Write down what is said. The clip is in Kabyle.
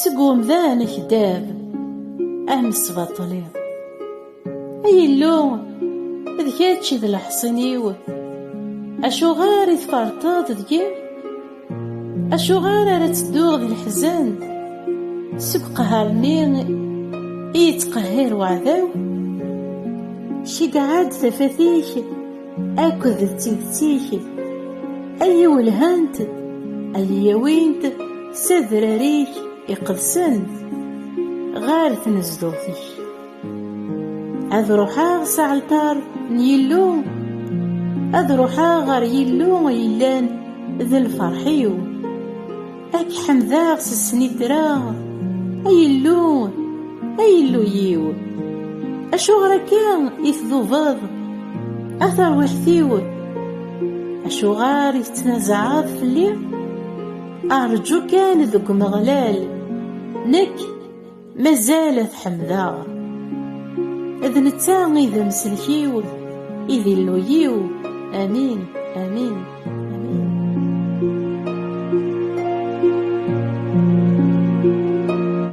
seg umdan akdab am sbaṭli ay illu d kečč d leḥṣin-iw acuɣer i tfarṭeḍ deg-i acuɣer ara tedduɣ d leḥzen seg qehṛ-nni i yettqehhir weɛdaw ceggeɛ-d tafat-ik akked d tidet-ik ay iwelhant ay yawint s adrar-ik iqedsen ɣer tnezduɣt-ik ad ruḥeɣ s aɛalṭar n Yillu ad ruḥeɣ ɣer Yillu yellan d lferḥ-iw Ad k-ḥemdeɣ s snitra, ay Illu, ay Illu-iw. Acuɣer akka i tdubeḍ, a tarwiḥt-iw? Acuɣer i tettnazaɛeḍ fell-i? Rǧu kan deg Umeɣlal, nekk Mazal ad ḥemdeɣ D netta i d amselkiw I d illuyiw Amin, amin, amin